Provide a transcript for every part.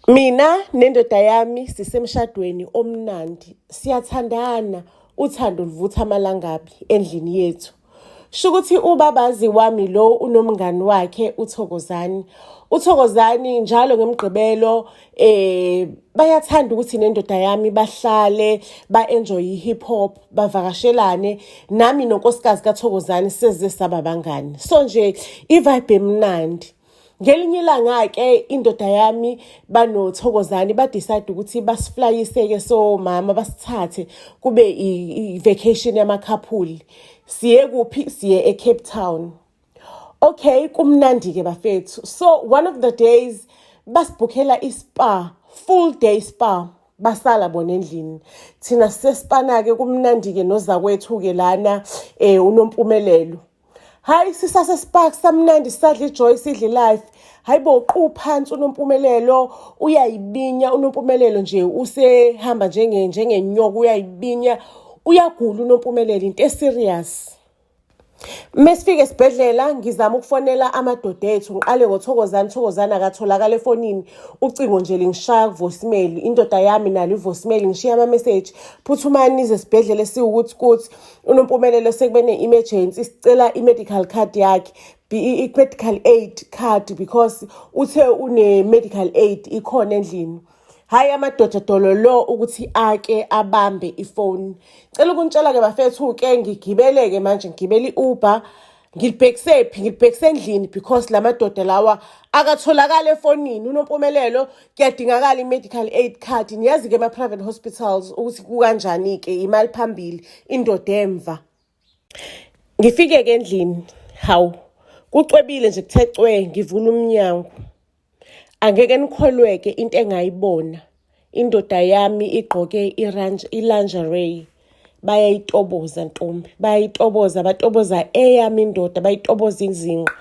Mina nendoda yami sisemshadweni omnandi. Siyathandana, uthando luvutha amalangabi endlini yethu. Shukuthi ubabazi wami lo unomngani wakhe uThokozani. UThokozani njalo ngemgqibelo eh bayathanda ukuthi nendoda yami bahlale ba-enjoy i-hip hop bavakashelane nami nonkosikazi kaThokozani seze saba bangani. So nje i-vibe emnandi. ngelinye ilanga-ke indoda yami banothokozane badecide ukuthi basiflayiseke somama basithathe kube i-vacation yamakhaphuli siye kuphi siye ecape town okay kumnandi-ke bafethu so one of the days basibhukhela ispa full day spa basala bona endlini thina sesipana-ke kumnandi-ke nozakwethu-ke lana um unompumelelo hayi sisase spark samnandi sisadla ijoy sidla ilife hayi bo uqu phansi unompumelelo uyayibinya unompumelelo nje usehamba njenge njengenyoka uyayibinya uyagula unompumelelo into eserious mesifike esibhedlela ngizama ukufonela amadoda ethu ngiqale ngothokozani thokozani akatholakala efonini ucingo nje lingishaya kuvoicemail indoda yami nalo ivoicemail ngishiya ama-message phuthumani nize esibhedlela esiwukuthi kuthi unompumelelo sekube ne-emergency sicela i-medical card yakhe i-medical aid card because uthe une-medical aid ikhona endlini hhayi amadoda dolo lo ukuthi ake abambe ifoni cela ukuntshela-ke bafethu-ke ngigibele-ke manje ngigibela i-uber ngilibhekise phi ngilibhekise endlini because la madoda lawa akatholakali efonini unompumelelo kuyadingakala i-medical aid card niyazi-ke ema-private hospitals ukuthi kukanjani-ke imali phambili indoda emva ngifike-ke endlini hawu kucwebile nje kuthe cwe ngivula umnyango Angeke nikholweke into engayibona. Indoda yami igqoke i-lingerie bayayitoboza ntombi bayayitoboza batoboza eyami indoda bayitoboza izinqa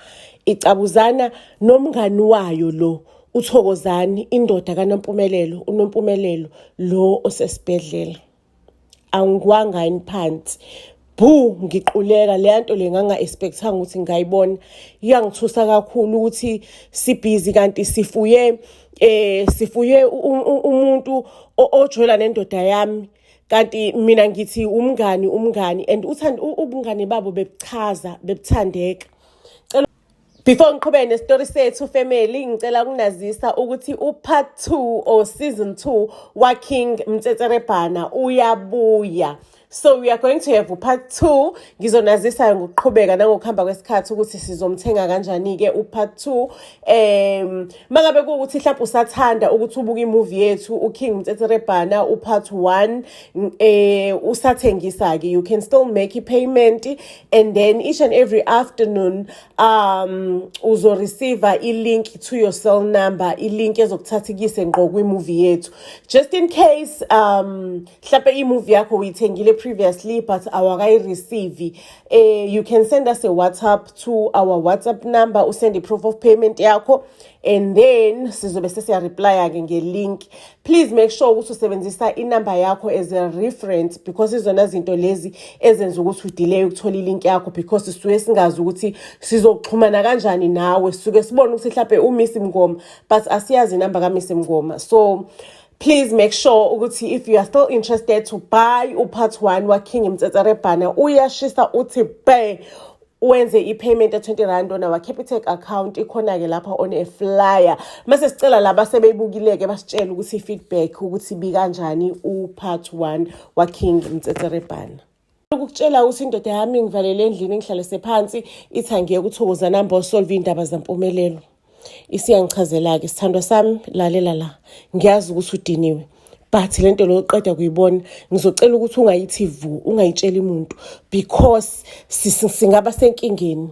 icabuzana nomngani wayo lo uthokozani indoda kanompumelelo unompumelelo lo osesibhedlela angikwanga yini phansi bhu ngiquleka leya nto le nganga-expectanga ukuthi ngingayibona iyangithusa kakhulu ukuthi sibhizi kanti sifuye eh sifuye umuntu ojola nendoda yami kanti mina ngithi umngani umngani and uthanda ubungane babo bebuchaza bebuthandeka Before ngiqhubeke nesitori sethu family ngicela kunazisa ukuthi upart 2 or season 2 wa King Mtsetserebhana uyabuya. So we are going to have upart 2 ngizonazisa ngokuqhubeka nangokuhamba kwesikhathi ukuthi sizomthenga kanjani ke upart 2. Em mangabe ukuthi mhlawumbe usathanda ukuthi ubuke imovie yethu uKing Mtsetserebhana upart 1 eh usathengisa ke you can still make a payment and then each and every afternoon um uzoreceiva i-link to your cell number i-link ezokuthatha ikuyise ngqo kwi-movie yethu just in case um mhlawumpe i-movie yakho uyithengile previously but awakayireceive eh you can send us a whatsapp to our whatsapp number usend i-proof of payment yakho and then sizobe sesiyareplya-ke ngelink please make sure ukuthi usebenzisa inumber yakho as a reference because izona zinto lezi ezenza ukuthi udelay ukuthola ilink yakho because sisuke singazi ukuthi sizoxhumana kanjani nawe sisuke sibone ukuthi mhlawumbe umisi mngoma but asiyazi inumber kamisi mngoma so please make sure ukuthi if you are still interested to buy upart one waking mtsetserebhana uyashisa uthi bhe wenze i-payment ya-20 rand on our capitec account ikhona-ke lapha on a flyer mase sicela laba sebeyibukile-ke basitshele ukuthi i-feedback ukuthi bikanjani u-part one waking mtsetserebhana ukutshela ukuthi indoda yami ngivalele endlini ngihlalise phansi ithi angiyeke uthokozana mbo solve iy'ndaba zampumelelo isiyangichazela-ke sithandwa sami lalela la ngiyazi ukuthi udiniwe but le nto leyo qeda kuyibona ngizocela ukuthi ungayithi vu ungayitsheli muntu because singaba senkingeni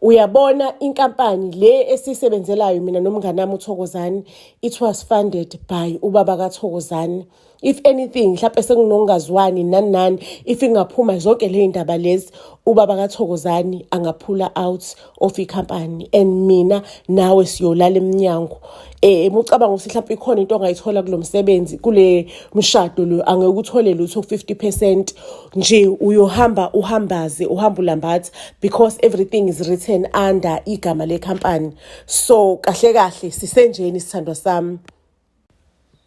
uyabona inkampani le esiyisebenzelayo mina nomngane wami uthokozane it was funded by ubaba kathokozane if anything mhlawumbe sekunongazwani nani nani if ingaphuma zonke le ndaba lezi ubaba kathokozani angaphula out of ikhampani and mina nawe siyolala emnyango eh emucabanga ukuthi mhlawumbe ikhona into ongayithola kulomsebenzi kule mshado lo angeke uthole lutho 50% nje uyohamba uhambaze uhamba ulambatha because everything is written under igama le company so kahle kahle sisenjeni sithandwa sami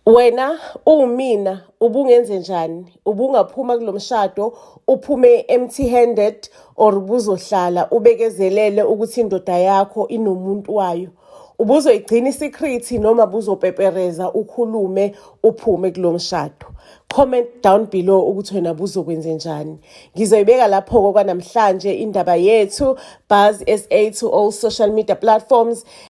Wena uwumina ubungenze njani ubungaphuma kulomshado uphume empty handed or ubuzohlala ubekezelele ukuthi indoda yakho inomuntu wayo ubuzoyigcina isecret noma buzopepereza ukhulume uphume kulomshado comment down below ukuthi wena buzokwenze njani ngizoyibeka lapho-ko kwanamhlanje indaba yethu buzz sa to all social media platforms